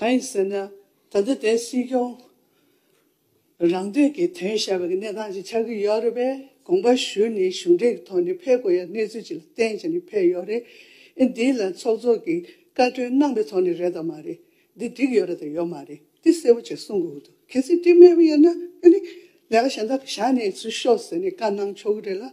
གང་ཡིན་ཟེར་ན་ད་ལྟ་དེ་སྲིད་སྐྱོང་རང་སྟོན་གྱི་དོན་བྱ་བའི་གནས་སྟངས་ཅིག་ཆགས་ཀྱི་ཡོད་རེད་པས་དགོངས་པ་ཞུ་ནས་གཞུང་འབྲེལ་གྱི་ཐོག་ནས་ཕེབས་དགོས་ཡ་གནས་ཚུལ་ཅིག་ལ་བརྟེན་བྱས་ནས་ཕེབས་ཡོད་རེད་ཨེ་འདི་ལ་ཚོགས་གཙོ་གིས་བཀའ་ཁྲོལ་གནང་པའི་ཐོག་ནས་རེད་དམ་མ་རེད་འདི་འགྲིག་ཡོད་རེད་དམ་ཡོད་མ་རེད་འདི་གསལ་པོ་ཅིག་གསུང་དགོས་ཀྱི་འདུག་གལ་སྲིད་འགྲིག་མེད་པ་ཡིན་ན་ཨེ་ནི་ལས་ཀ་གཞན་དག་བྱ་ནས་ཚུལ་ཤོག་ཟེར་ནས་བཀའ་གནང་ཆོག་གི་རེད་ལ་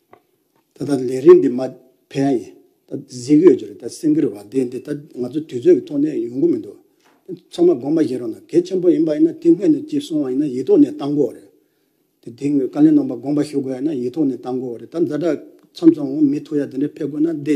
ད་ལྟ་ལས་རིགས་འདི་མ་ཕན་ཡིན་ད་གཟིགས་ཡོད་ཀྱི་རེད་ད་སེམས་ཁུར་བ་དེ་འདི་ད་ང་ཚོ་དུས་ཚོད་ཀྱི་ཐོག་ནས་ཡོང་གི་མི་འདུག་ཚང་མ་དགོངས་པ་བཞེས་རོགས་གནང་གལ་ཆེན་པོ་ཡིན་པ་ཡིན་ན་དེ་སྔོན་ནས་ཅིག་སོང་བ་ཡིན་ན་ཡིག་ཐོག་ནས་བཏང་དགོས་རེད་དེ་དེ་སྔོན་བཀའ་ལན་གནང་པ་དགོངས་པ་ཞུ་དགོས་ཡ་ན་ཡིག་ཐོག་ནས་བཏང་དགོས་རེད་ད་ཛ་དྲག་མཚམས་སོང་མི་ཐུག་ཡ་དེ་འདྲས་ཕེབས་དགོས་ན་འདི་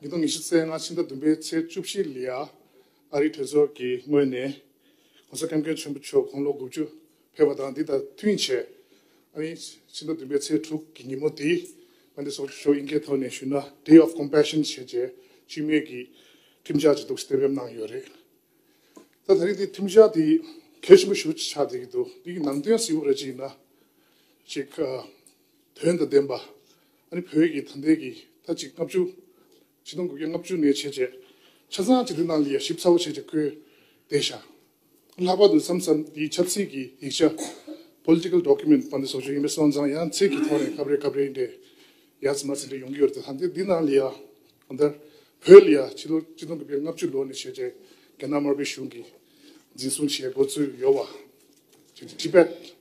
ཉིས་སྟོང་ཉི་ཤུ་ཚེས་ལྔ་ཕྱི་ཟླ་བདུན་པའི་ཚེས་བཅུ་བཞི་ལ། ཨ་རིའི་གྲོས་ཚོགས་ཀྱི་ངོས་ནས ྋགོང་ས ྋསྐྱབས་མགོན་ཆེན་པོ་མཆོག་དགུང་ལོ་དགུ་བཅུ་ཕེབས་པ་དང་འདི་དང་མཐུན་ཆེད། ཨ་རིའི་ཕྱི་ཟླ་བདུན་པའི་ཚེས་དྲུག་གི་ཉིན་མོ་དེ་མངའ་སྡེ་སོགས་ཀྱི་ཕྱོགས་དབྱིན་སྐད་ཐོག་ནས་ཞུས་ན Day of Compassion ཞེས་བྱས་འཆི་མེད་ཀྱི་ཁྲིམས་འཆར་ཅིག་འདུག་གསལ་བསྒྲགས་གནང་ཡོད་རེད། ད་ད་རིང་དེ་ཁྲིམས་འཆར་དེ་གལ་ཆེན་པོ་ཞུ་ཆགས་བསྡད་ཀྱི་འདུག་འདི་གི་ནང་དོན་གཟིགས་པ་རེ་ཅིག་ཡིན་ན། ཅིག། དོན་དང་ལྡན་པ། ཨ་རི་བོད་ཀྱི་ཐང་རྟེན་གྱི་ཐ་གཅིག་ལྔ་བཅུ། ཆིག་སྟོང་དགུ་བརྒྱ་ལྔ་བཅུ་ནས་བྱས་རྗེས་ཆ་ཚང་གཅིག་སྡུད་གནང་སྟེ་ཞིབ་ཚགས་པོ་བྱས་རྗེས་བཀོད་བསྡད་བཞག་ལྷག་པར་དུ་མཚམས་མཚམས་འདིའི་ཆབ་སྲིད་ཀྱི་ཡིག་ཆ། Political Document། པ་འདི་སོགས་ཆོས་ཡིན་པའི་སོང་ཙང་ཡང་ཚིག་གི་ཐོག་ནས་སྐབས་རེ་སྐབས་རེའི་འདྲེ་ཡ་ཟི་མ་ཟི་འདྲེ་ཡོང་གི་ཡོད་རེད་དེ་ཐང་རྟེན་འདི་ནང་ལ་ཡ་གང་ལྟར་བོད་ལ་ཡ་ཕྱི་ལོ་ཆིག་སྟོང་དགུ་བརྒྱ་ལྔ་བཅུ་ལོ་ནས་བྱས་རྗེས་རྒྱ་ནག་དམར་པོའི་གཞུང་གིས་འཛིན་བཟུང་བྱས་འགོ་ཚུགས་ཡོད་བ། Tibet།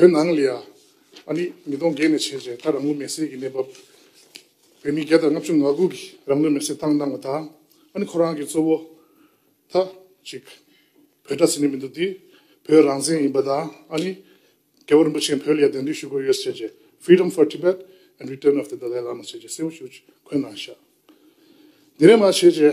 བོད་ནང་ལ་ཡང་ཨ་ནི་མི་སྟོང་བརྒལ་ནས་བྱས་བྱས་ད་རང་ལུས་མེར་སྲེག་གི་གནས་བབ། བོད་མི་བརྒྱ་དང་ལྔ་བཅུ་ང་དགུ་གིས་རང་ལུས་མེར་སྲེག་བཏང་གནང་བ་དང་ཨ་ནི་ཁོ་རང་གི་གཙོ་བོ་ད་ཅིག་བོད་དྲ་ཟིན་ནི་མི་འདུག་འདི་བོད་རང་བཙན་ཡིན་པ་དང་ཨ་ནི་རྒྱལ་བོ་རིན་པོ་ཆེ་བོད་ལ་ཡང་གདན་འདྲེན་ཞུ་དགོས་ཡོད་བྱས་བྱས Freedom for Tibet and Return of the Dalai Lama བྱས་བྱས་གསལ་བོ་ཞུ་འཁོད་གནང་ཤག་འདི་རེད་མ་བྱས་བྱས།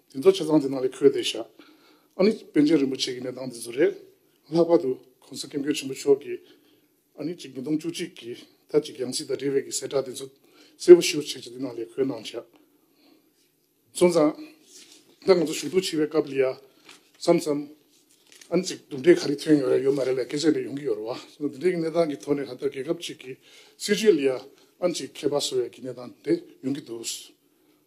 དེ་ཚོ་ཆ་ཚང་དེ་ནང་ལས་འཁོད་བསྡད་བཞག་ཨ་ནི་པན་ཆེན་རིན་པོ་ཆེ་གི་གནས་སྟངས་དེ་ཚོ་རེད། ལྷག་པར་དུ་གོང་ས་སྐྱབས་མགོན་ཆེན་པོ་མཆོག་གིས་ཨ་ནི་གཅིག་ཉིས་སྟོང་བཅུ་གཅིག་གི་ཟླ་གཅིག་ཡང་སྲིད་དང་འབྲེལ་བའི་གི་གསལ་བསྒྲགས་དེ་ཚོ་གསལ་པོ་ཞིའོ་བྱས་ཀྱི་དེ་ནང་ལས་འཁོད་གནང་བཞག་སོང་ཙང། ད་ང་ཚོ་ཞུགས་འཐུས་བྱེད་པའི་སྐབས་ལ་ཡ་བསམ་བསམ། ཨ་ནི་གཅིག་གྲུབ་འབྲས་ག་རེ་ཐོན་ཡོད་རེད་ཡོད་མ་རེད་ལ་སྐད་ཆ་རེ་ཡོང་གི་ཡོད་རེད་བ། འདི་འདྲའི་གི་གནས་སྟངས་ཀྱི་ཐོག་ནས་ག་ལྟར་རྒྱལ་ཁབ་ཅིག་གི་སྲིད་བྱུས་ལ་ཡ་ཨ་ནི་གཅིག་མཁས་པ་བཟོ་བའི་གི་གནས་སྟངས་དེ་ཡོང་གི་འདུག།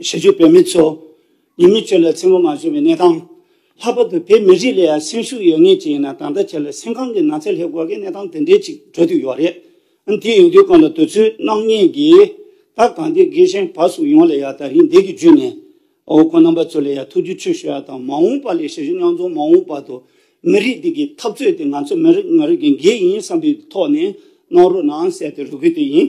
ཞི་བྱེད་བོད་མི་ཚོ་ཉེས་མེད་ཆོས་ལ་འཚེ་བོ་མ་བྱོས་པའི་གནས་སྟངས། ལྷག་པར་དུ་བོད་མི་རིགས་ལ་ཡང་སེམས་ཤུགས་ཡོད་ངེས་ཅིག་ཡིན་ན་ད་ལྟ་ཆེ་ལ་སེམས་ཁམས་ཀྱི་ནགས་ཚལ་ལྷས་བསྐོར་གི་གནས་སྟངས་དེ་འདྲའི་ཅིག་གྲོལ་དུ་ཡོད་རེད། དེ་ཡོང་དུས་གང་ལ་དུས་ཚོད་སྣང་བརྙན་གྱི་ད་གང་དེ་དགེ་བཤེས་བར་སོགས་ཡོངས་ལ་ཡང་དག་རིན་འདེགས་ཀྱི་བརྒྱུད་ནས་འོ་ཁོ་རྣམ་པ་ཚོ་ལ་ཡང་ཐུགས་རྒྱུད་ཆོས་ཞུ་བ་དང་མ་འོངས་པ་ལས་ཞི་བྱེད་རྙོག་འཛོང་མ་འོངས་བར་དུ་མི་རིགས་འདི་གི་འཐབ་རྩོད་དེ་ང་ཚོ་མི་རིགས་ང་རིགས་ཀྱི་འགན་ཡིན་བསམ་པའི་ཐོག་ནས་གནང་རོགས་གནང་གསལ་དེ་རུ་གུ་དེ་ཡིན།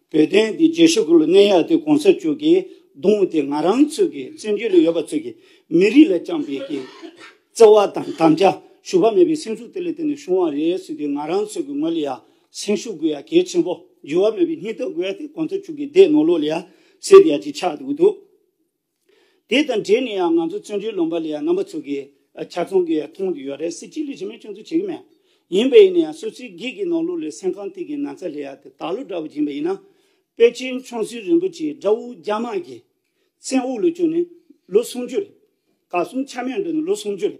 བོད་དོན་གྱི་རྗེས་ཤུལ་ལ་གནས་ཡག་དེ་གོང་ས་མཆོག་གིས་བརྡུངས་དེ་ང་རང་ཚོས་ཀྱི་བཙན་བྱོལ་ལ་ཡོད་པ་ཚོས་ཀྱི་མི་རིགས་ལ་བཅངས་པའི་ཀྱི་བརྩེ་བ་དང་དམ་བཅའ་ཞུ་བ་མེད་པའི་སེམས་ཤུགས་དེ་ལ་བརྟེན་ནས་བྱུང་བ་རེད་ཟེར་དུས་ང་རང་ཚོས་ཀྱི་ངོས་ལ་ཡང་སེམས་ཤུགས་དགོས་ཡ་གལ་ཆེན་པོ་འགྱུར་བ་མེད་པའི་སྙིང་སྟོབས་དགོས་ཡ་དེ་གོང་ས་མཆོག་གི་སྡེ་ནོར་ལོག་ལ་ཡ་སེ་དེ་ཡ་གཅིག་ཆགས་འདུག་དེ་དང་འབྲེལ་ནས་ཡང་ང་ཚོ་བཙོན་གྲོལ་ལོངས་པ་ལས་ཡང་རྣམ་པ་ཚུགས་ཀྱི་ཆ་ཚང་གི་མཐོང་དུ་ཡོད་རེད་སྲིད་སྤྱི་ལས་བྱེད་མས་སྐྱོན་འཛུགས་བྱེད་ཀྱི་མེད། ཡིན་པས་ནས་སོ་སོའི་སྒེར་གྱི་ནོར་ལུག་ལས་སེམས་ཁང་སྟེང་གི་ན་ཚ་ལས་ཡག་དེ་དག་ལུག་འདྲ་བོ་སྦྱིན་པ་ཡིན་ན། པེ་ཅིན་ཆོང་སུའི་རིན་པོ་ཆེ་དགྲ་བོ་རྒྱ་དམག་གིས་མཚན་དབུགས་ལུག་ཅོ་ནི་ལོ་སུམ་ཅུ་རེད། ག་གསུམ་ཆ་མེད་འགྲོ་ནི་ལོ་སུམ་ཅུ་རེད།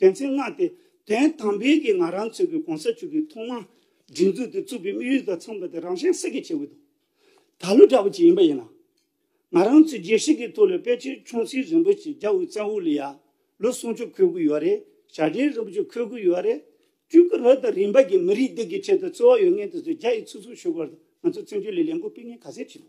དོན་ཚན་ལྔ་སྟེ། དོན་དམ་བོད་ཀྱི་ང་རང་ཚོའི་གོང་ས་མཆོག་གིས་ཐོག་མར་སྒྲིག་འཛུགས་དེ་བཙུགས་པའི་དམིགས་ཡུལ་དང་མཚོན་པ་དེ་རང་གཞན་སེ་གེ་བྱེད་དགོས་འདུག་ད་ལོ་འདྲ་བོ་ཅིག་ཡིན་པ་ཡིན་ན། ང་རང་ཚོའི་རྒྱལ་སྲིད་ཀྱི་ཐོག་ལ་དཔལ་ཆེན་ཆུང་སྲིད་རིན་པོ་ཆེ་རྒྱ་བོད་བཙན་དབུ་ལ་ཡར་ལོ་སྲུང་སྐྱོབ་འཁོད་དགོས་ཡོད་རེད་ཞྭ་སྒྲེང་རིན་པོ་ཆེ་འཁོད་དགོས་ཡོད་རེད། བཅུད་ཀྱི་རོ་དང་རིན་པ་གྱིས་མི་རིགས་འདི་གའི་ཆེད་དུ་བརྩེ་བ་ཡོད་ངེས་དེ་ཚོ་རྒྱ་ཡིས་ཚུགས་ཚུགས་ཞུ་དགོས་པ་དང་ང་ཚོ་བཙན་བྱོལ་ལས་ལས་འགུལ་སྤེལ་མཁན་ག་ཚད་བྱེད་དགོས།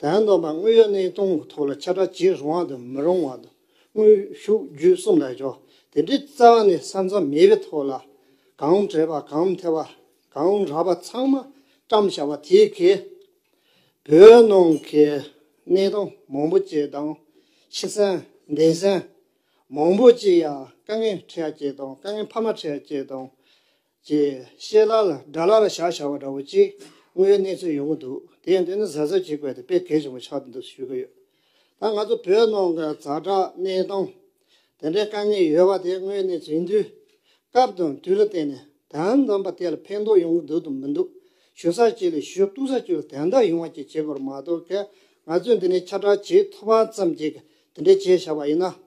དོན་དམ་པར་དངོས་ཡོད་གནས་སྟངས་ཀྱི་ཐོག་ལ་ཆ་སྒྲ་འབྱེད་རུང་བ་དང་མི་རུང་བ་དང་དངོས་ཤུགས་བརྒྱུད་གསུམ་ལ་འཇོག་དེ་འདྲའི་རྩ་བ་ནས་ས་མཚམས་མེད་པའི་ཐོག་ལ། གང་བྲལ་བ་གང་མཐའི་བ་གང་རགས་པ་ཚང་མ་བཀྲམ་བཞག་པ་དེ་གས། བོད་ནང་གི་གནས་སྟངས་མང་པོ་བཅས་དང། ཕྱི་སེམས་གདན་སེམས་མང་པོ་བཅས་ཡང་དཀའ་ངལ་འཕྲད་ཡ་བཅས་དང་དཀའ་ངལ་ཕ་མ་འཕྲད་ཡ་བཅས་དང། ཅེས་བཤད་ལ་ལ་སྒྲ་ལ་ལ་བཞག་བྱ་བ་འདྲ་བོ་ཅི་དངོས་ཡོད་གནས་ཚུལ་ཡོང་གི་འདུག་དེ་ཡང་འདི་ནི་གཟབ་གཟབ་བྱེད་དགོས་དེ་དཔེ་གལ་ཆེན་པོ་ཆགས་ཀྱི་འདུག་ཞུ་གི་ཡོད། ད་ང་ཚོ་བོད་ནང་གི་གཟའ་གྲགས་གནས་སྟངས་དེ་འདྲའི་དཀའ་ངལ་ཡོད་པ་དེ་དངོས་ཡོད་གནས་ཚུལ་ཡིན་དུས། སྐབས་དང་དུས་ལ་བརྟེན་ནས་དོན་དམ་པ་དེ་ལ་ཕན་ཐོགས་ཡོང་གི་འདུག་དང་མི་འདུག་ཞུ་ས་གཅིག་ལས་ཞུ་གཏུག་ས་གཅིག་ལ་དན་རྟགས་ཡོང་བ་བཅས་བྱེད་དགོས་པ་མ་གཏོགས་ང་ཚོས་འདི་ནས་ཁྱབ་བསྒྲགས་བྱེད་ཐུབ་པ་ཙམ་གྱིས་དེ་འདྲས་བྱས་བཞག་པ་ཡིན་ན།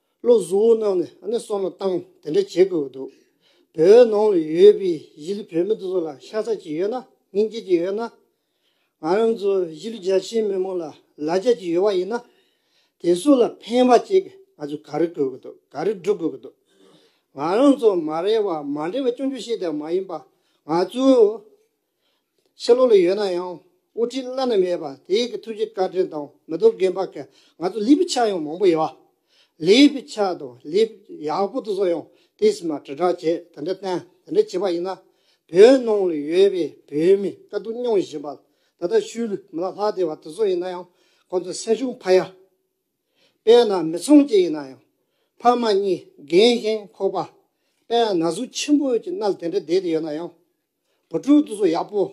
བློ་གཟུ་བོ་རྣམས་ནས་ནས་སོང་ལ་བཏང་དེ་འདྲ་བྱེད་དགོས་འདུག་བོད་ནང་ལ་ཡོད་པའི་གཞིས་ལུས་བོད་མི་དེ་ཚོ་ལ་ཤ་ཚ་གཅིག་ཡོད་ན་སྙིང་རྗེ་གཅིག་ཡོད་ན། ང་རང་ཚོ་གཞིས་ལུས་རྒྱ་ཆེའི་མི་མང་ལ་ལ་རྒྱ་གཅིག་ཡོད་པ་ཡིན་ན། དེ་ཚོ་ལ་ཕན་པ་གཅིག་ང་ཚོས་ག་རེ་དགོས་ཀྱི་འདུག་ག་རེ་སྒྲུབ་དགོས་ཀྱི་འདུག་ང་རང་ཚོ་མ་རེད་བ་མ་འདྲེ་བ་ཅུང་ཅུང་ཤེས་ལྡན་མ་ཡིན་པ་ང་ཚོའི་ཕྱི་ལོགས་ལ་ཡོད་ན་ཡང་དབུ་ཁྲིད་བླ་ན་མེད་པ་དེ་གི་ཐུགས་རྗེ་བཀའ་དྲིན་དང་མི་རྡོ་རྒན་པ་གི་ང་ཚོ་ལི་པི་ཆག་ཡང་མང་པོ་ཡོད་བ། ལི་པི་ཆག་དང་ལི་ཡག་པོ་དེ་ཚོ་ཡང་དེ་སི་མ་དྲིལ་བསྒྲགས་བྱེད་དེ་འདྲ་བསྟན་དེ་འདྲ་བྱེད་པ་ཡིན་ན་བོད་ནང་ལ་ཡོད་པའི་བོད་མི་དཀའ་སྡུག་མྱོང་བཞིན་པ་ད་ལྟ་ཤུལ་ལུས་མི་ལ་ལྷག་དེ་བ་དེ་ཚོ་ཡིན་ན་ཡང་ཁོ་ཚོ་སེམས་ཤུགས་འཕར་ཡ། དཔེར་ན་མི་ཚང་གཅིག་ཡིན་ན་ཡང་ཕ་མ་གཉིས་རྒན་ཞིང་ཁོག་པ་དཔལ་ན་ཟུག་ཆེན་པོ་གྱི་སྣ་ལ་དེ་འདྲ་བསྡད་དེ་ཡོད་ན་ཡང་བུ་ཕྲུག་དུ་སུ་ཡག་པོ།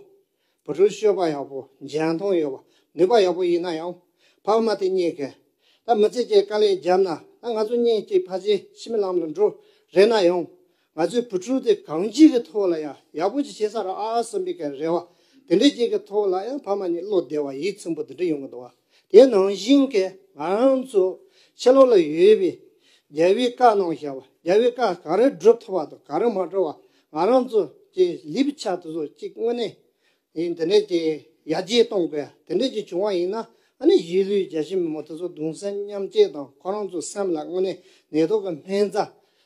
བུ་ཕྲུག་སྤྱོད་པ་ཡག་པོ་མཇལ་མཐོང་ཡོད་པ་ནུས་པ་ཡག་པོ་ཡིན་ན་ཡང་ཕ་མ་དེ་གཉིས་ཀས་ད་མི་ཚེ་གཅིག་དཀའ་ལས་བརྒྱབ་ན་ད་ང་ཚོ་གཉིས་གཅིག་ཕ་ཚེ་ཕྱི་མི་ལམ་ལ་འགྲོ་རེ་ན་ཡང་ང་ཚོའི་བུ་ཕྲུག་དེ་གང་གཅིག་གི་ཐོག་ལ་ཡང་ཡག་པོ་ཅིག་བྱེད་ས་ར་ཨ་གསུམ་པའི་ག་རེ་བ་དེ་འདྲ་གཅིག་གི་ཐོག་ལ་ཡང་ཕ་མ་གཉིས་བློ་བདེ་བ་ཡིད་ཚིམ་པོ་དེ་འདྲ་ཡོང་གི་འདུག་བ། དེ་ནང་བཞིན་གྱི་ང་རང་ཚོ་ཕྱི་ལོགས་ལ་ཡོད་པའི་རྒྱལ་བའི་བཀའ་གནང་བཞག་པ་རྒྱལ་བའི་བཀའ་ག་རེ་བསྒྲུབ་ཐུབ་པ་དང་ག་རེ་མ་བསྒྲུབ་པ་ང་རང་ཚོ་ཀྱི་ལེབ་ཆ་དེ་ཚོ་གཅིག་དངོས་གནས་ཡིན་དེ་འདྲས་ཀྱི་ཡར་རྒྱས་གཏོང་དགོས་དེ་འདྲས་ཀྱི་བྱུང་བ་ཡིན་ན་ཨ་ནི་གཞིས་ལུས་རྒྱ་ཆེ་མི་མོ་དེ་ཚོ་གདུང་སེམས་མཉམ་བསྐྱེད་དང་ཁོ་རང་ཚོ་སེམས་ལ་དངོས་གནས་ནད་ཐོག་གི་སྨན་རྩ་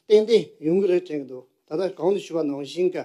ཏན་ཏན་ཡོང་གི་རེད་དྲན་གྱི་འདུག་ད་ལྟ་གང་དུ་ཞུས་པ་ནང་བཞིན་གྱི།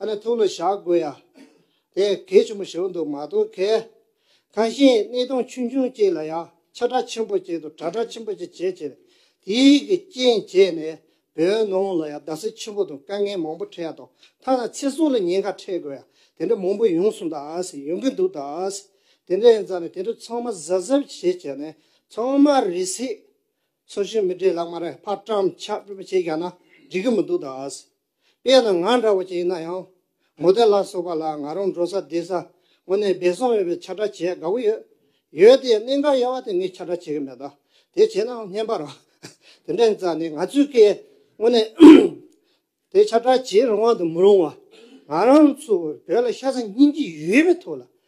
ཨ་ནི་ཐུགས་ལ་བཞག་དགོས་ཡ། དེ་གལ་ཆེན་པོ་ཞིག་འདུག་མ་གཏོགས་གལ། གང་ཞིག་གནས་སྟངས་ཆུང་ཆུང་ཅིག་ལ་ཡང་ཆ་སྒྲག་ཆེན་པོ་ཅིག་དང་གྲ་སྒྲག་ཆེན་པོ་ཅིག་བྱེད་ཅེས་དེའི་གི་རྐྱེན་བྱས་ནས་བོད་ནང་ལ་ཡང་རྡ་སའི་ཆེན་པོ་དང་དཀའ་ངལ་མང་པོ་འཕྲད་དང་ཐ་ན་ཚེ་སྲོག་ལ་ཉེན་ཁ་འཕྲད་དགོས་ཡ་དེ་འདྲ་མང་པོ་ཡོང་སོང་ད་ཡོང་གི་འདུག་ད་དེ་འདྲ་ཡིན་ཙང་ནས་དེ་འདྲ་ཚང་མ་གཟབ་གཟབ་བྱས་བྱས་ནས་ཚང་མ་རི་སི། སོ་ཤི་མི་དྲེ་ལག་མ་རེ་ཕར་བཀྲམ་ཆག་བཀྲུ་བ་བྱས་བཞག་ན་འགྲིག་གི་མི་འདུག་ད། དཔེ་ན་ང་འདྲ་བོ་ཅིག་ཡིན་ན་ཡང། མོ་དེ་ལ་སོགས་པ་ལ་ང་རང་འགྲོ་ས་བསྡད་ས་ངོ་ནས་སྦེད་སོང་ཡོད་པའི་ཆ་སྒྲ་བྱེད་དགའ་བོ་ཡོད། ཡོད་དེ་གནས་འགའ་ཡལ་བ་དེ་ངས་ཆ་སྒྲ་བྱེད་ཀྱི་མེད། དེ་བྱས་ནའང་བསྙན་པར་རོགས། དེ་འདྲ་ཡིན་ཙང་ནི་ང་ཚོས་ཀྱི་ངོ་ནས་དེ་ཆ་སྒྲ་བྱེད་རུང་བ་དང་མི་རུང་བ། ང་རང་ཚོ་བོད་ལ་ཤ་ཚ་སྙིང་རྗེ་ཡོད་པའི་ཐོག་ལ་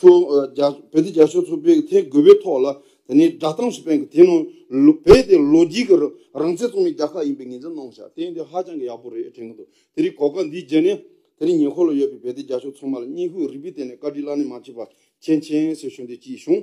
བོད་དེ་རྒྱ་ཤོག་ཚུར་སྤེལ་གྱི་ཐད་དགོས་པའི་ཐོག་ལ་དེ་ནས་བསྒྲགས་གཏམ་ཞིག་སྤེལ་འགོ་དེ་ནང་བོད་དེ་ལོ་རྒྱུས་ཀྱི་རང་བཙན་རྩོད་མེད་རྒྱ་ཁག་ཡིན་པའི་ངེས་འཛིན་གནང་བཞག་དེ་འདི་ཧ་ཅང་གི་ཡག་པོ་རེད་དྲན་གྱི་འདུག་དེ་རིང་གོ་སྐབས་འདི་བརྒྱད་ནས་དེ་རིང་ཉེ་འཁོར་ལ་ཡོད་པའི་བོད་དེ་རྒྱ་ཤོག་ཚང་མ་ལ་སྙིང་ཤུགས་རིག་པའི་སྟེང་ནས་བཀའ་དྲིན་བླ་ན་མ་མཆིས་པ་ཆེན་ཆེན་ཟེར་ཞུ་འདོད་སྐྱིད་བྱུང།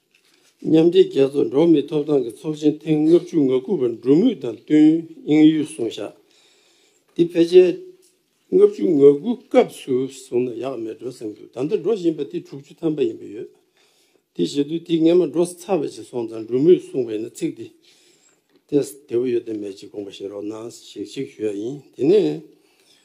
མཉམ་འབྲེལ་རྒྱལ་ཚོགས་འགྲོ་མིའི་ཐོབ་ཐང་གི་ཚོགས་ཆེན་ཐེངས་ལྔ་བཅུ་ང་དགུ་པ་འགྲོ་མུས་དང་བསྟུན་དབྱིན་ཡུལ་སོང་བཞག་འདི་ཕལ་ཆེར་ལྔ་བཅུ་ང་དགུ་སྐབས་སུ་བཟུང་ན་ཡག་མེད་འགྲོ་བསམ་འདུག་ད་ལྟ་འགྲོ་བཞིན་པ་དེ་དྲུག་ཅུ་ཐམ་པ་ཡིན་པ་ཡོད་དེ་བཞེད་དུས་དེ་སྔས་མ་འགྲོ་ས་ཚར་བ་ཞིག་སོང་ཙང་འགྲོ་མུས་གསུངས་པ་ཡིན་ན་ཚིག་འདི་ལྟས་བདེ་བོ་ཡོད་དམ་མེད་ཅིག་དགོངས་པ་བཞེས་རོགས་གནང་ཞེས་ཅིག་ཞུ་ཡག་ཡིན་དེ་ནས།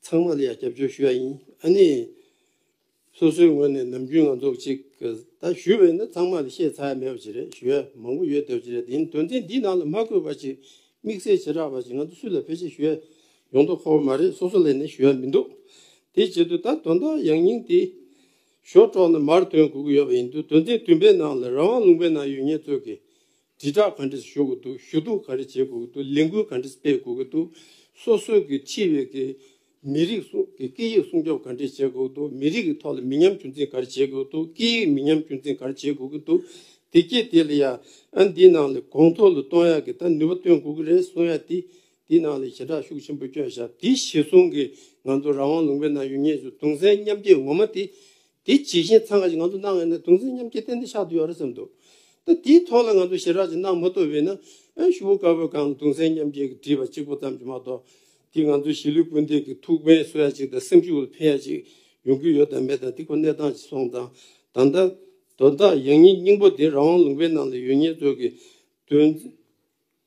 ཚང་མ་ལ་ཡང་སྐྱབས་བཅོལ་ཞུ་ཡ་ཡིན་ཨ་ནི། སོ་སོའི་ངོས་ནས་ནམ་རྒྱུན་ང་ཚོ་གཅིག་ད་ཞུ་བའི་ནི་ཚང་མ་ལ་ཤེས་ཚ་ཡ་མེད་པ་ཅིག་རེད་ཞུ་ཡ་མང་པོ་ཡོད་འདོད་ཅིག་རེད་དེ་ཡིན་དོན་ཚན་འདིའི་ནང་ལ་མ་བཀོད་པ་ཅིག་དམིགས་བསལ་བྱེ་བྲག་པ་ཅིག་ང་ཚོ་སུ་ལ་ཕལ་ཆེར་ཞུ་ཡ་ཡོང་དོགས་ཁོ་བ་མ་རེད་སོ་སོ་ལས་ནས་ཞུ་ཡ་མི་འདུག་དེ་བྱེད་དུས་ད་དོན་དག་ཡང་སྙིང་དེ་ཞོར་དྲོག་ན་མར་དོན་གོ་གི་ཡོད་པ་ཡིན་དུས་དོན་ཚན་བདུན་པའི་ནང་ལ་རང་དབང་ལུང་པའི་ནང་ཡོད་ངེས་ཚོད་ཀྱི་དྲིལ་བསྒྲགས་ག་འདྲས་ཞུ་དགོས་འདུག་ཞུ་གཏུག་ག་རེ་བྱེད་དགོས་འདུག་ལས་འགུལ་ག་འདྲས་སྤེལ་དགོས་ཀྱི་འདུག་སོ་སོའི་གི་ཁྲི་བའི་གི་མི་རིགས་སྲུང་གི་སྐད་ཡིག་སྲུང་སྐྱོབ་ག་འདྲས་བྱེད་དགོས་འདུག་མི་རིགས་གི་ཐོག་ལ་མི་ཉམས་ཆུང་འཛིན་ག་རེ་བྱེད་དགོས་འདུག་སྐད་ཡིག་མི་ཉམས་ཆུང་འཛིན་ག་རེ་བྱེད་དགོས་ཀྱི་འདུག་དེ་སྐད་དེ་ལ་ཡ་ཨན་དེའི་ནང་ལ་གོང་མཐོ་ལ་གཏོང་ཡག་གི་ད་ནུས་པ་བཏོན་དགོས་ཀྱི་རེད་གསུང་ཡག་དེ་དེའི་ནང་ལ་ཞེ་དྲག་ཤུགས་ཆེན་པོ་བསྐྱོན་ཞབས་དེ་གཞི་བཟུང་གི་ང་ཚོ་རང་དབང་ལུང་པའི་ནང་ཡོད་ངེས་ཞུ་གདུང་སེམས་མཉམ་སྐྱེད་ངོ་མ་དེ་དེ་ཇི་བཞིན་ཚང་ག་ཅིག་ང་ཚོ་གནང་ཡོད་ན་དུང་སེམས་མཉམ་སྐྱེ་ཏན་ཏན་ཆགས་འདུག་ཡོད་རེད་བསམ་འདུག་ད་དེའི་ཐོག་ལ་ང་ཚོ་ཞེ་དྲག་ཅིག་གནང་མ་ཐུབ་བས་ན་ཞུ་བོ་དཀར་བོས་གང་དུང་སེམས་མཉམ་སྐྱེ་གི་བྲིས་པ་གཅིག་པོ་ཙམ་གྱིས་མ་གཏོགས་དེ་ང་ཚོ་གཞིས་ལུས་སྤུན་ཟླས་ཀྱི་ཐུགས་ཕན་གསོ་ཡ་ཅིག་དང་སེམས་ཤུགས་འཕེན་ཡ་ཅིག་ཡོང་གི་ཡོད་དང་མེད་དང་དེ་ཁོ་གནས་སྟངས་ཅིག་སོང་ཙང་ད་ལྟ་དོ་བདག་ཡང་སྙིང་སྙིང་པོ་དེ་རང་དབང་ལུང་པའི་ནང་ལ་ཡོད་ཉེན་ཚོད་ཀྱི་དོན།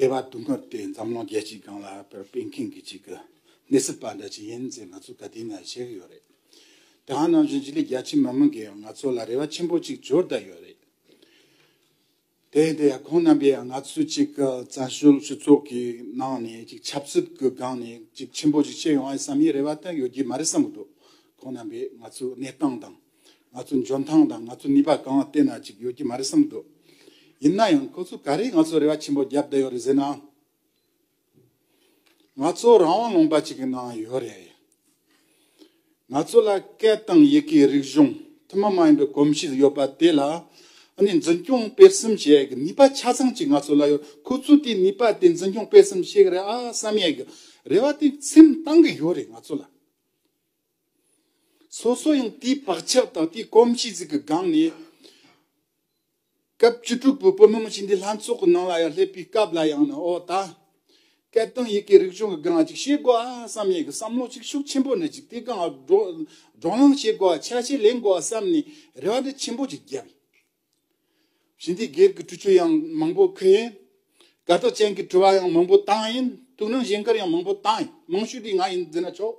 སྡེ་བ་དུ་མར་དེ་འཛམ་གླིང་རྒྱལ་སྤྱིའི་སྒང་ལ་དཔལ་སྤེལ་མཁན་གྱི་གཅིག་གི་གནས་ཚུལ་པ་འདྲ་ཅིག་ཡིན་ཚེ་ང་ཚོ་དགའ་དུས་ན་བཤད་གི་ཡོད་རེད། དེ་ཧང་ནང་བཞིན་སྤྱི་ལེ་བརྒྱ་ཕྱི་མ་མིན་གི་ཡང་ང་ཚོ་ལ་རེ་བ་ཆེན་པོ་གཅིག་འབྱོར་བསྡད་ཡོད་རེད། དེ་ཡིན་དུས་ཡང་ཁོང་རྣམ་པས་ཡང་ང་ཚོ་གཅིག་གི་བཙན་བྱོལ་སྤྱི་ཚོགས་ཀྱི་ནང་ནས་གཅིག་ཆབ་སྲིད་ཀྱི་སྒང་ནས་གཅིག་ཆེན་པོ་ཅིག་བྱེད་ཡོང་བའི་བསམ་ཡས་རེ་བ་དེ་ཡོད་ཀྱི་མ་རེད་བསམ་གི་འདུག་ཁོང་རྣམ་པས་ང་ཚོའི་གནས་སྟངས་དང། ང་ཚོ་འཇོན་ཐང་དང་ང་ཚོ་ནུས་པ་གང་བལྟས་ན་ཅིག་ཡོད་ཀྱི་མ་རེད་བསམ་འདུག་ཡིན་ན་ཡང་ཁོ་ཚོ་ག་རེས་ང་ཚོ་རེ་བ་ཆེན་པོ་བརྒྱབ་བསྡད་ཡོད་རེད་ཟེར་ན། ང་ཚོ་རང་དབང་ལུང་པ་ཅིག་གི་ནང་ཡོད་རེད། ང་ཚོ་ལ་སྐད་དང་ཡི་གེའི་རིག་གཞུང་ཐུན་མོང་མ་ཡིན་པའི་གོམས་གཤིས་ཡོད་པ་དེ་ལ་ནི་འཛིན་སྐྱོང་སྤེལ་གསུམ་བྱེད་ཡག་གི་ནུས་པ་ཆ་ཚང་ཅིག་ང་ཚོ་ལ་ཡོད་ཁོ་ཚོས་དེའི་ནུས་པ་དེ་འཛིན་སྐྱོང་སྤེལ་གསུམ་བྱེད་ཀྱི་རེད་ཨ་བསམ་ཡག་གི་རེ་བ་དེ་སེམས་གཏང་གི་ཡོད་རེད་ང་ཚོ་ལ། སོ་སོ་ཡང་དེའི་བག་ཆགས་དང་དེའི་གོམས་གཤིས་གཟུགས་ཀྱི་སྒང་ནས། སྐབས་བཅུ་དྲུག་པའི་བོད་མི་མང་སྤྱི་འཐུས་ལྷན་ཚོགས་ཀྱི་ནང་ལ་ཡང་སླེབས་པའི་སྐབས་ལ་ཡང་ནི་ཨོ་ད། སྐད་དོན་ཡི་གེའི་རིག་གཞུང་གི་སྒང་ལ་ཅིག་བཤད་དགོས་ཨ་བསམ་ཡི་གི་བསམ་བློ་ཅིག་ཤུགས་ཆེན་པོ་ནས་ཅིག་དེའི་སྒང་ལ་སྒྲོག་ལངས་བྱེད་དགོས་ཨ་ཆ་ཤས་ལེན་དགོས་ཨ་བསམ་ནས་རེ་བ་འདི་ཆེན་པོ་ཅིག་བརྒྱབ། ཞིང་སྡེའི་སྒེར་གྱི་གྲུ་ཆུ་ཡང་མང་པོ་ཁུར་ཡིན། དགའ་ཐོག་ཅན་གྱི་གྲུ་བ་ཡང་མང་པོ་བཏང་ཡིན། ཐུགས་སྣང་བཞེངས་སྐར་ཡང་མང་པོ་བཏང་ཡིན། མང་ཤོས་དེ་ང་ཡིན་ཟེར་ན་ཆོག།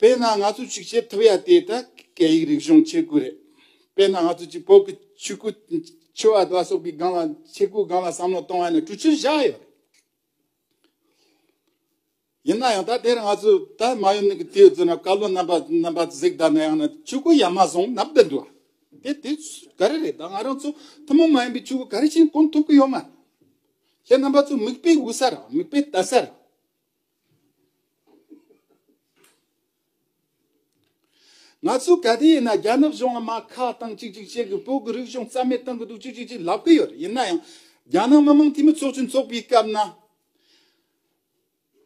དཔེར་ན་ང་ཚོ་ཞིག་བྱེད་ཐུབ་ཡ་དེ་ད་སྐད་ཡིག་རིག་གཞུང་ཆེད་སྐུལ་རེད། དཔེར་ན་ང་ཚོ་ཅིག་བོད་ཀྱི་ཆོས་སྐུ། ཆོས་བར་དགའ་སོགས་ཀྱི་སྒང་ལ་ཆེད་སྐུལ་སྒང་ལ་བསམ་བློ་གཏོང་བ་ནི་གྲུ་ཆུར་བཞག་ཡོད་རེད། ཡིན་ན་ཡང་ད་དེར་ང་ཚོ་ད་མ་ཡོམ་ནི་གི་དུས་ཚོད་ན་བཀའ་བློན་རྣམ་པ་རྣམ་པ་གཟིགས་ད་ན་ཡང་ན་ཆོས་སྐུ་ཡ་མ་བཟུང་ནབ་ད་འགྲོ་དེ་དེ་ག་རེ་རེད་ད་ང་རང་ཚོ་ཐུན་མོང་མ་ཡིན་པའི་ཆོས་སྐུ་ག་རེ་བཞིན་སྐོང་ཐུབ་ཀྱི་ཡོད་མ་རེད། ཁྱེད་རྣམ་པ་ཚོ་མིག་དཔེ་དབུ་ས་ར་མིག་དཔེ་ལྟ་ས་ར། ང་ཚོས་ག་དུས་ཡིན་ན་རྒྱ་ནག་གཞུང་དམག་ཁ་གཏང་གཅིག་གཅིག་བྱེད་གི་བོད་ཀྱི་རིག་གཞུང་རྩ་མེད་གཏང་གི་འདུག་ཅིག་ཅིག་ཅིག་ལབ་གི་ཡོད་རེད་ཡིན་ན་ཡང་རྒྱ་ནག་མི་དམངས་འཐུས་མི་ཚོགས་ཆུང་འཚོགས་པའི་སྐབས་ན་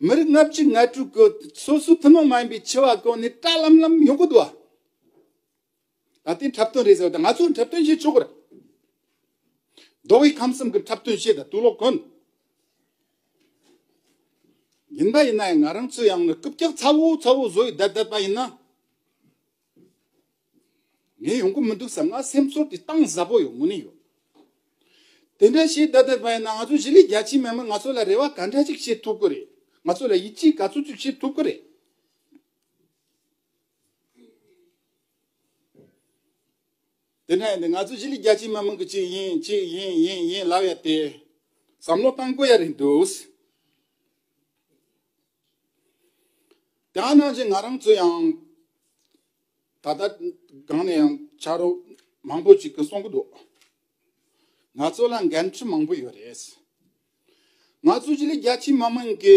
མི་རིགས་ལྔ་བཅུ་ལྔ་དྲུག་གི་སོ་སོའི་ཐུན་མོང་མ་ཡིན་པའི་འཆི་བ་བཀག་ནས་བཀྲ་ལམ་ལམ་ཡོང་གི་འདུག་བ། ད་ལྟའི་འཁྲབ་སྟོན་རེད་ཟེར་བ་དང་ང་ཚོའི་འཁྲབ་སྟོན་བྱེད་ཆོག་གི་རེད། མདོ་དབུས་ཁམས་གསུམ་གྱི་འཁྲབ་སྟོན་བྱེད་དང་དུས་ལོག་གོན། ཡིན་པ་ཡིན་ན་ཡང་ང་རང་ཚོའི་ཡང་ན་རྐུབ་བཀྱག་ཚ་བོ་ཚ་བོ་བཟོ་ཡི་བསྡད་བསྡད་པ་ཡིན་ན། ངས་ཡོང་གི་མི་འདུག་བསམ་ན་སེམས་ཚོར་དེ་གཏང་གཟབ་པོ་ཡོང་གི་ནི་ཡོད། དེ་འདྲ་བྱེད་བསྡད་བསྡད་པ་ཡིན་ན་ང་ཚོ་གཞིས་ལུས་རྒྱ་ཆེའི་མི་མང་ང་ཚོ་ལ་རེ་བ་ག་འདྲ་ཅིག་བྱེད་ཐུབ་གི་རེད། ང་ཚོ་ལ་ཡིད་ཆེས་ག་ཚོད་ཅིག་བྱེད་ཐུབ་གི་རེད། དེ་ནས་ནི་ང་ཚོ་ཞི་ལི་རྒྱལ་སྤྱིའི་མི་མང་གི་ཅིག་ཡིན་ཅིག་ཡིན་ཡིན་ཡིན་ལབ་ཡ་དེ་བསམ་བློ་བཏང་དགོས་ཡ་རེད་འདུག་དེའང་ནང་བཞིན་ང་རང་ཚོ་ཡང་ད་ལྟ་གང་ནས་ཡང་ཕྱག་རོགས་མང་པོ་ཅིག་གི་སོང་གི་འདུག་ང་ཚོ་ལ་འགན་འཁྲི་མང་པོ་ཡོད་རེད་ང་ཚོ་ཞི་ལི་རྒྱལ་སྤྱིའི་མི་མང་གི་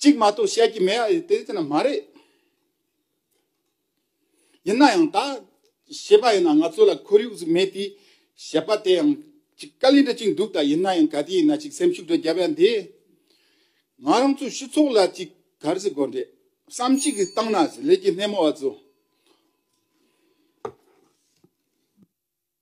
གཅིག་མ་གཏོགས་བཤད་ཀྱི་མེད་ཨ། དེ་དེ་ན་མ་རེད། ཡིན་ན་ཡང་ད་བཤད་པ་ཡིན་ན་ང་ཚོ་ལ་ཁོར་ཡུག་ཟིག་མེད་དེ། བཤད་པ་དེ་ཡང་ཅིག་དཀའ་ལས་འདྲ་ཅིག་འདུག་ད་ཡིན་ན་ཡང་ག་དུས་ཡིན་ན་ཅིག་སེམས་ཤུགས་འདྲ་བརྒྱབ་ཡ་འདི། ང་རང་ཚོ་སྤྱི་ཚོགས་ལ་ཅིག་གར་ཟིག་དགོས་འདྲེ། བསམ་གཅིག་གིས་བཏང་ན་ཟིག་ལས་ཀྱི་སྣེ་མོ་བ་ཚོ།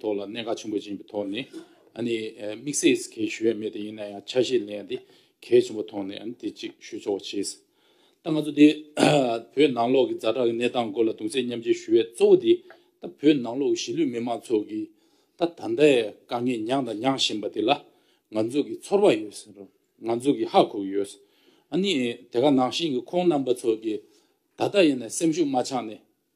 ཐོག་ལ་གནད་འགག་ཆེན་པོ་ཅན་གྱི་ཐོག་ནས་དམིགས་བསལ་གྱི་གལ་ཞུ་ཡ་མེད་ད་ཡིན་ན་ཡང་ཆ་ཤས་ལེན་ཡ་དེ་གལ་ཆེན་པོ་ཐོག་ནས་དེ་གཅིག་ཞུ་ཆོག་བྱས་ཟེར། ད་ང་ཚོ་དེ་བོད་ནང་ལོག་གི་རྫ་དྲག་གི་གནས་སྟངས་སྐོར་ལ་གདུང་སེམས་མཉམ་བསྐྱེད་ཞུ་བའི་གཙོ་བོ་དེ་ད་བོད་ནང་ལོག་གི་གཞིས་ལུས་མི་མང་ཚོགས་ཀྱིས་ད་ད་ལྟའི་དཀའ་ངལ་མྱངས་དང་མྱངས་བཞིན་པ་དེ་ལ་ང་ཚོ་གི་ཚོར་བ་ཡོད་ཟེར་རོ། ང་ཚོ་གི་ཧ་གོ་གི་ཡོད་ཟེར། ཨ་ནི་དེ་ག་ནང་བཞིན་གྱི་ཁོང་རྣམ་པ་ཚོ་གི་ད་ད་ཡིན་ན་སེམས་ཤུགས་མ་ཆག་ནས་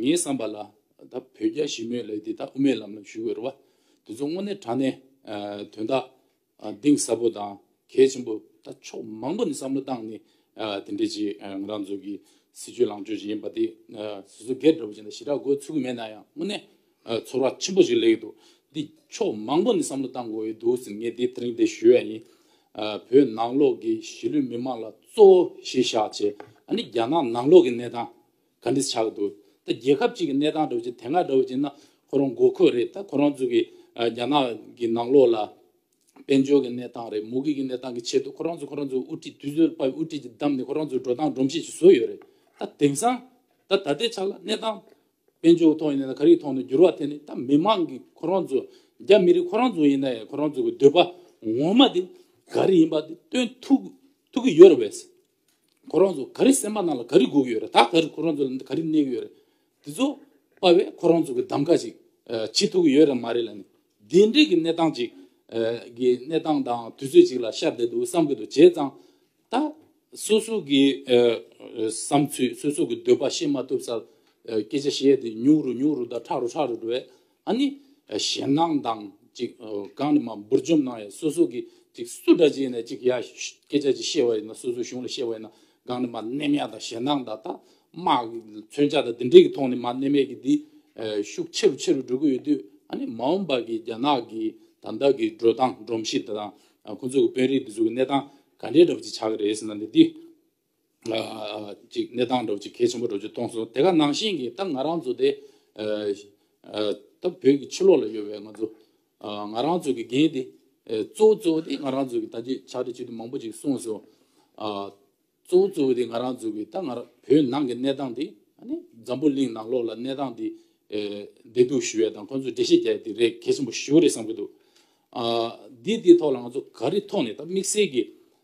ངའི་བསམ་པ་ལ། ད་བོད་རྒྱ་ཞི་མོལ་ལས་འདི་དག་དབུ་མའི་ལམ་ལ་ཞུགས་འོས་པ། དེ་ཚོ་དངོས་གནས་དྲང་གནས། དོན་དག། གདིང་ཟབ་པོ་དང་གལ་ཆེན་པོ། ད་ཕྱོགས་མང་པོ་ནས་བསམ་བློ་བཏང་ནས། དེ་འདྲའི་ཆེད་ང་རང་ཚོ་གི་སྲིད་ཇུས་ལངས་ཕྱོགས་ཅིག་ཡིན་པ་དེ། སོ་སོ་སྒེར་འདྲ་བོ་ཅིག་ལ་ཞེ་དྲག་དགོས་ཚུལ་མེད་ན་ཡང་དངོས་གནས། ཚོར་བ་ཆེན་པོ་ཞིག་ལེགས་འདུག་འདི་ཕྱོགས་མང་པོ་ནས་བསམ་བློ་བཏང་དགོས་ཡོད་འདུག་ཟེར་ངས་དེ་རིང་འདི་ཞུ་ཡ་ཡིན། བོད་ནང་ལོགས་ཀྱི་གཞིས་ལུས་མི་མང་ལ་གཙོ་བོ་གཞིས་ཤག་ཆེ། ཨ་ནི་རྒྱ་ནག་ནང་ལོགས་ཀྱི་གནས་སྟངས། ག་འདྲི་ཆགས་འདུག་ད་རྒྱལ་ཁབ་ཅིག་གི་གནས་སྟངས་འདྲ་བོ་ཅིག་དེ་སྔ་འདྲ་བོ་ཅིག་ན་ཁོ་རང་མགོ་ཁོས་རེད་ད་ཁོ་རང་ཚོ་གི་རྒྱ་ནག་གི་ནང་ལོགས་ལ་དཔལ་འབྱོར་གི་གནས་སྟངས་རེད་མུ་གེ་གི་གནས་སྟངས་ཀི་ཆེད་དུ་ཁོ་རང་ཚོ་ཁོ་རང་ཚོ་དབུ་ཁྲིད་དུས་ཚོད་དབུ་ཁྲིད་ཅིག་བདམས་ནས་ཁོ་རང་ཚོ་འགྲོ་སྟངས་སྒྲོམ་གཞི་ཅིག་བཟོས་ཡོད་རེད་ད་དེང་སང་ད་ད་ལྟའི་ཆ་ལ་གནས་སྟངས་དཔལ་འབྱོར་གི་ཐོག་ཡིན་ནའི་ག་རེའི་ཐོག་ནས་འགྱུར་བ་དེ་ནི་ད་མི་མང་གི་ཁོ་རང་ཚོ་རྒྱ་མི་རིགས་ཁོ་རང་ཚོ་ཡིན་ནའི་ཁོ་རང་ཚོ་གི་འདོད་པ་ངོ་མ་དེ་ག་རེ་ཡིན་པ་དེ་སྟོན་ཐུབ་ཐུབ་ཀི་ཡོད་རེད་བས། ཁོ་རང་ཚོ་ག་རེ་སེམས་པ་ནང་ལ་ག་རེ་སྒུག་ཡོད་རེད་ད་ག་རེ་ཁོ་རང་ཚོ་ལ་ག་རེ་གནས་གི་ཡོད་རེད། དེ་ཚོ་དཔའ་བས་ཁོ་རང་ཚོ་གི་གདམ་ཀ་ཞིག་བྱེད་ཐུབ་ཀྱི་ཡོད་རེད་མ་རེད་ལ་ནི། དེ་འདྲའི་གི་གནས་སྟངས་ཅིག་གི་གནས་སྟངས་དང་དུས་ཚོད་ཅིག་ལ་ཤར་བསྡད་འདུག་བསམ་གི་འདུག་བྱས་ཙང་ད་སོ་སོ་གི་བསམ་ཚུལ་སོ་སོ་གི་འདོད་པ་བཤད་མ་ཐུབ་སར་སྐད་ཆ་བཤད་དེ་ཉུག་རུ་ཉུག་རུ་དང་ཁྲག་རུ་ཁྲག་རུ་འགྲོ་བས་ཨ་ནི། ཞེད་སྣང་དང་ཅིག་གང་ནས་མ་འབུར་འཇོམས་གནང་ཡང་སོ་སོ་གིས་ཅིག་སུ་འདྲ་བྱས་ནས་ཅིག་ཡ། སྐད་ཆ་ཅིག་བཤད་བ་ཡིན་ན་སོ་སོའི་གཞུང་ལ་བཤད་བ་ཡིན་ན་གང་ནས་མ་གནས་མལ་དང་ཞེད་སྣང་དང་ཐ་མ། མཚོན་ཆ་དང་དེ་འདྲས་ཀྱི་ཐོག་ནས་མ་གནས་མལ་གྱི་འདི། ཤུགས་ཆེ་རུ་ཆེ་རུ་འགྲོ་གི་ཡོད་དུས་ཨ་ནི་མ་འོངས་པ་གི་རྒྱ་ནག་གི་ད་ལྟ་གི་འགྲོ་སྟངས་སྒྲོམ་གཞི་དང། ཁོང་ཚོ་གི་དཔོན་རིགས་འདི་ཚོ་གི་གནས་སྟངས་ག་འདྲས་འདྲ་བོ་ཅིག་ཆགས་ཀྱི་རེད་ཟེར་ན་ནི་འདི། ཅིག་གནས་སྟངས་འགྲོ་ཅིག་གལ་ཆེན་པོ་འགྲོ་རྒྱུ་གཏོང་སོང། དེ་ག་ནང་བཞིན་གྱི་ད་ང་རང་ཚོ་དེ། ད་བོད་ཀྱི་ཕྱི་ལོགས་ལ་ཡོད་པའི་ང་ཚོ། ང་རང་ཚོ་གི་འགན་དེ། གཙོ་བོ་གཙོ་བོ་དེ་ང་རང་ཚོ་གི་ད་ཅིག་ཕྱག་བྲིས་ཅིག་དེ་མང་པོ་ཅིག་གསུངས་སོང། གཙོ་བོ་གཙོ་བོ་དེ་ང་རང་ཚོ་གི་ད་ང་རང་བོད་ནང་གི་གནས་སྟངས་དེ། འཛམ་བུ་གླིང་ནང་ལོགས་ལ་གནས་སྟངས་དེ། བདེ་སྡུག་ཞུ་བའི་དང་ཁོང་ཚོ་འགྲེལ་བཤད་རྒྱག་དེ་རེད་གལ་ཆེན་པོ་ཞུ་རེད་བསམ་གྱི་འདུག། འདི་དེ་ཐོག་ལ་ང་ཚོ་ག་རེ་ཐོག་ནས་ད་དམིགས་བསལ་གྱི།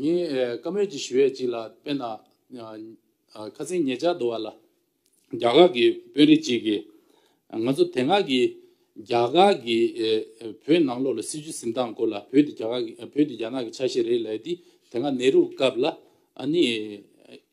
ངས་བཀའ་མོལ་གྱི་ཞུ་བའི་གཅིག་ལ་དཔེར་ན། ཁ་སེང་ཉེ་ཆར་དུ་བ་ལ་རྒྱ་གར་གྱི་དཔོན་རིགས་གཅིག་གིས། ང་ཚོ་དེ་སྔ་གི་རྒྱ་གར་གྱི་བོད་ནང་ལོགས་ལ་སྲིད་བྱུས་གཟིམ་སྟངས་སྐོར་ལ་བོད་དེ་རྒྱ་ནག་གི་ཆ་ཤས་རེད་ལབ་དེ་དེ་སྔ་ནེ་རུ་སྐབས་ལ་ཨ་ནི།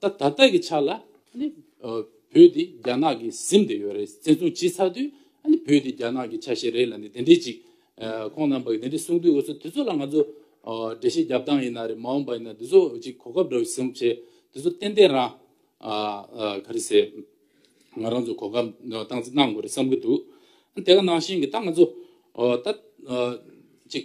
ད་ད་ལྟ་གི་ཆ་ལ་ནི་བོད་དེ་རྒྱ་ནག་གི་གཟིམ་དེ་ཡོད་རེད་བཙན་བཟུང་བྱས་ཚར་དུས་ནི་བོད་དེ་རྒྱ་ནག་གི་ཆ་ཤས་རེད་ལ་ནི་དེ་འདྲས་ཅིག་ཁོང་རྣམ་པ་གིས་དེ་འདྲས་གསུངས་དུས་འོ་ཚོད་དེ་ཚོ་ལ་ང་ཚོ་འགྲེལ་བཤད་རྒྱབ་སྟངས་ཡིན་ན་རེད་མ་འོངས་པ་ཡིན་ན་དེ་ཚོ་ཅིག་གོ་སྐབས་འདྲ་བའི་གཟིམ་བྱས་དེ་ཚོ་ཏན་ཏན་རང་ག་རེ་ཟེར་ང་རང་ཚོ་གོ་སྐབས་སྟངས་འཛིན་གནང་དགོས་རེད་བསམ་གི་འདུག་དེ་ག་ནང་བཞིན་གྱི་ད་ང་ཚོ་ད་ཅིག་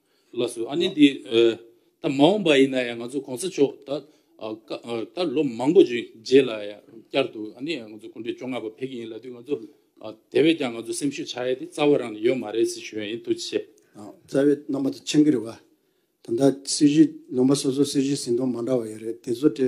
ལགས་སོ། ཨ་ནི་འདི། ད་མ་འོངས་པ་ཡིན་ན་ཡང་ང་ཚོ་གོང་ས་མཆོག་ད། ད་ལོ་མང་པོ་རྗེས་ལ་ཡང་བསྐྱར་དུ་ཨ་ནི་ང་ཚོ་དགུན་དུས་བཅོ་ལྔ་པ་ཕེབས་ཀྱི་ཡིན་ལ་དུས་ང་ཚོ། དེ་བས་ཀྱང་ང་ཚོ་སེམས་ཤུགས་ཆགས་ཡས་དེ་རྩ་བ་རང་ནས་ཡོད་མ་རེད་ཟེར་ཞུ་ཡ་ཡིན་ཐུགས་རྗེ་ཆེ། རྩ་བའི་རྣམ་པ་དེ་མཆན་གྱི་རེད་བ། ད་ལྟ་སྲིད་ཇུས་ལུང་པ་སོ་སོ་སྲིད་ཇུས་ཟིན་ཐོ་མ་འདྲ་བ་ཡོད་རེད་དེ་ཚོ་དེ།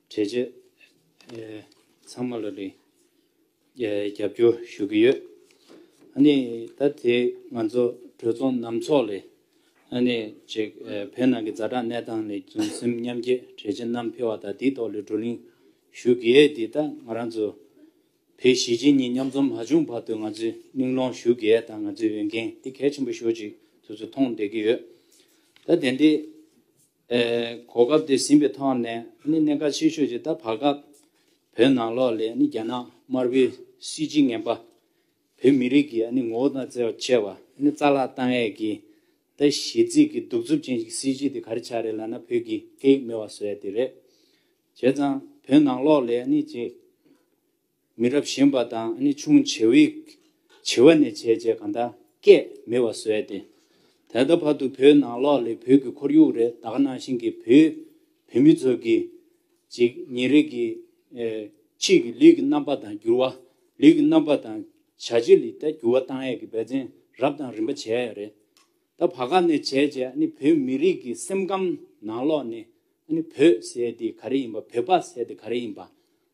བྱས་རྗེས་ཚང་མ་ལ་རེ་རྒྱབ་སྐྱོར་ཞུ་གི་ཡོད། ད་དེ་ང་ཚོ་གྲོས་ཚོགས་ནམ་ཚོགས་ལས་ཅེག་བོད་ནང་གི་རྫ་དྲག་གནས་སྟངས་ལས་བྱུང་སེམས་མཉམ་སྐྱེད་གྲས་ཆེ་རྣམ་འཕེལ་བ་དང་དེའི་ཐོག་ལས་བགྲོ་གླེང་ཞུ་གི་ཡོད་དེ་ད་ང་རང་ཚོ་བོད་གཞིས་བྱེས་གཉིས་མཉམ་འཛོམས་མ་བྱུང་བར་དུ་ང་ཚོས་གླེང་སློང་ཞུ་གི་ཡོད་ད་ང་ཚོའི་འོས་འགན་དེ་གལ་ཆེན་པོ་ཞོག་ཅིག་ཚོ་ཚོ་མཐོང་བསྡད་ཀྱི་ཡོད། ད་དེ་འདྲའི། གོ་སྐབས་དེ་ཟིན་པའི་ཐོག་ནས་གནད་འགག་ཆེ་ཤོས་ཀྱི་ད་བར་སྐབས་བོད་ནང་ལོགས་ལས་རྒྱ་ནག་དམར་པོའི་སྲིད་སྤྱིའི་ངན་པ་བོད་མི་རིགས་ཀྱི་ངོ་བོ་དང་བརྩེ་བ་ཆེ་བ་རྩ་བརླག་བཏང་ཡས་ཀྱི་ད་གཞི་རྩིས་ཀྱི་གདུག་རྩུབ་ཅན་གྱི་སྲིད་སྤྱི་དེ་ག་རེ་ཆགས་རེད་ལབ་ན་བོད་ཀྱི་སྐད་ཡིག་མེད་བ་བཟོ་ཡས་དེ་རེད། བྱས་ཙང་བོད་ནང་ལོགས་ལས་ཅེས། མི་རབས་གཞན་པ་དང་ནི་ཆུང་བྱེ་བས། བྱི་བ་ནས་བྱས་བྱས་གང་དག་སྐད་མི་བ་བཟོས་ཏེ། ད་ལྟ་བར་དུ་བོད་ནང་ལོགས་ལས་བོད་ཀྱི་ཁོར་ཡུག་རེ་དག་ནང་བཞིན་གྱི་བོད་བོད་མི་ཚོ་གི། ཅིག་ཉིན་རེ་གི། ཕྱིས་ཀྱི་ལུས་ཀྱི་རྣམ་པ་དང་འགྱུར་བ། ལུས་ཀྱི་རྣམ་པ་དང་བྱ་བྱེད་ལི་ཐ་འགྱུར་བ་བཏང་ཡས་ཀྱི་འབད་བརྩོན་རབ་དང་རིམ་པ་བྱས་ཡས་རེད། ད་བར་ག་ནས་བྱས་བྱས་ནི་བོད་མི་རིགས་ཀྱི་སེམས་ཁམས་ནང་ལོགས་ནས་ནི་བོད་ཟེར་དེ་ག་རེ་ཡིན་པ་བོད་པ་ཟེར་དེ་ག་རེ་ཡིན་པ།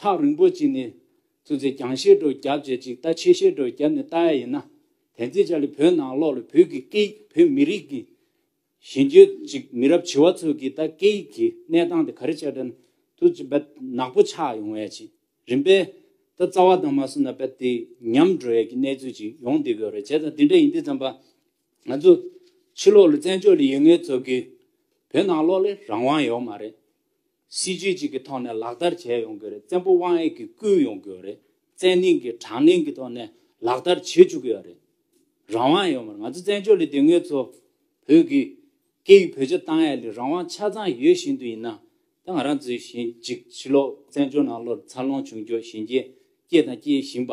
ཐག་རིང་པོ་གཅིག་ནི། ཐུགས་རྗེ་རྒྱང་ཤེལ་སྒྲོག་རྒྱབ་བཅས་གཅིག་རྟ་ཆེ་ཤེལ་སྒྲོག་རྒྱབ་ནི་རྟ་ཡ་ཡིན་ན། དེ་འཛིན་བྱ་ལས་བོད་ནང་ལོག་ལ་བོད་ཀྱི་སྐད་ཡིག་བོད་མི་རིགས་ཀྱི། གཞན་རྒྱུད་ཅིག་མི་རབས་བྱི་བ་ཚོ་གིས་ད་སྐད་ཡིག་གི་གནས་སྟངས་དེ་ག་རེ་བྱས་དྲན་ཐུགས་ཀྱི་བད་ནག་པོ་ཆགས་ཡོང་བས་ཅི་རིན་པས། ད་རྩ་བ་དང་མ་སུ་ན་བད་དེ་ཉམས་འགྲོ་ཡས་ཀྱི་གནས་ཚུལ་ཅིག་ཡོང་བསྡད་ཡོད་རེད་བྱས་ཙང་དེ་འདྲ་ཡིན་དུས་བརྩམས་པ། ང་ཚོ་ཕྱི་ལོག་ལ་བཙན་བྱོལ་ལ་ཡོད་ངེས་ཚོ་གིས་བོད་ནང་ལོག་ལས་རང་དབང་ཡོག་མ་རེད། སྲིད་ཇུས་གཅིག་གི་ཐོག་ནས་ལག་བསྟར་བྱས་ཡོང་གི་རེད་བཙན་པོ་དབང་ཡེད་ཀྱིས་བསྐུལ་ཡོང་གི་ཡོད་རེད་བཙན་གླིང་གིས་དྲང་གླིང་གི་ཐོག་ནས་ལག་བསྟར་བྱེད་བཅུག་གི་ཡོད་རེད། རང་དབང་ཡོད་མ་རེད་ང་ཚོ་བཙན་བྱོལ་ལི་དེ་ངོས་ཚོ་བོད་ཀྱི་སྐད་ཡིག་བོད་ཆ་ཏང་ཡ་ལི་རང་དབང་ཆ་ཚང་ཡོད་བཞིན་དུ་ཡིན་ན་ད་ང་རང་ཚོའི་ཞེན་ཅིག་ཕྱི་ལོགས་བཙན་བྱོལ་ནང་ལོར་འཚར་ལོངས་བྱུང་ཁྱོ་ཞིང་རྒྱས་སྐྱེད་དང་སྐྱེད་བཞིན་པ་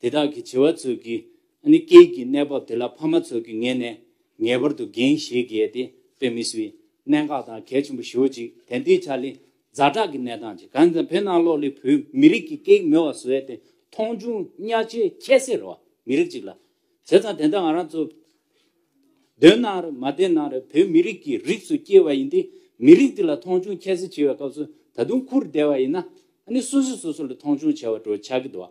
དེ་དག་གི་བྱེ་བ་ཚོས་ཀྱིས་ནི་སྐྱེས་ཀྱི་གནས་བབས་དེ་ལ་ཕ་མ་ཚོས་ཀྱིས་ངེས་ནས་ངེས་པར་དུ་འགན་བཞེས་དགེས་ཏེ་དཔེ་མི་སྲིད། གནད་འགག་དང་གལ་ཆེན་པོ་ཞུ་ཅིག་དན་ཏིའི་ཆ་ལི་རྫ་བྲག་གི་གནས་སྟངས་ཅི་གང་ཙམ་བོད་ནང་ལོག་ལི་བོད་མི་རིགས་ཀྱི་སྐད་མི་བ་བཟོས་ཏེ་མཐོང་ཆུང་གཉའ་ཆེ་ཁྱད་སེ་ར་བ་མི་རིགས་ཅིག་ལ་བྱས་ཙང་དེ་འདྲ་ང་རང་ཚོ་འདོད་ན་རེད་མ་བདེན་ན་རེད་བོད་མི་རིགས་ཀྱི་རིགས་སུ་སྐྱེས་བ་ཡིན་ཏེ་མི་རིགས་འདི་ལ་མཐོང་ཆུང་ཁྱད་སེ་བྱེད་བའི་སྐབས་སུ་ད་དུང་འཁུར་བདེ་བ་ཡིན་ན་ནི་སོ་སོས་སོ་སོ་ལ་མཐོང་ཆུང་བྱས་བ་འགྲོ་ཆགས་ཀྱི་འདུག